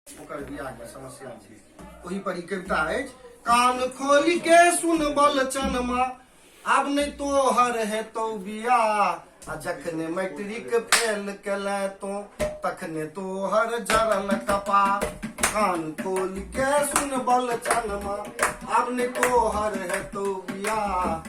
ओकर बियाह के समस्या छै ओहि पर ई कविता अछि कान खोल के सुन बल चनमा आब नहि तोहर हेतौ बियाह आ जखने मैट्रिक फेल केले तो तखने तोहर जरल कपा कान खोल के सुन बल चनमा आब नहि तोहर हेतौ बियाह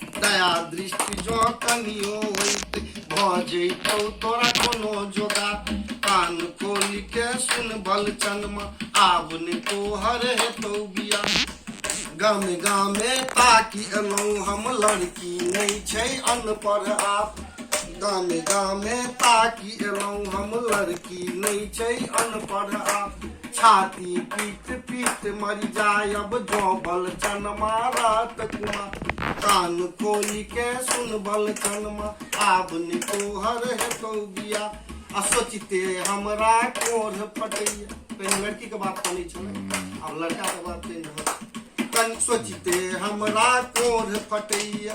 दया दृष्टि जो कनियो होइत भ जैतौ तोरा कोनो जोगा कान खोलि के सुन बल चनमा आब ने तोहर हेतौ बिया गामे गामे ताकि एलहुँ हम लड़की नहि छै अनपढ़ आप गामे गामे ताकि एलहुँ हम लड़की नहि छै अनपढ़ आप छाती पीट पीट मर जायब जोबल चन मारत कुमा कान खोली के सुनबल चनमा आब नि तोहर हेतौ बिया आ सोचते हमरा कोढ़ फटैया पहिने लड़की के बात करै छलै आब लड़का के बात कहि रहल छी। कनि सोचते हमरा कोढ़ फटैया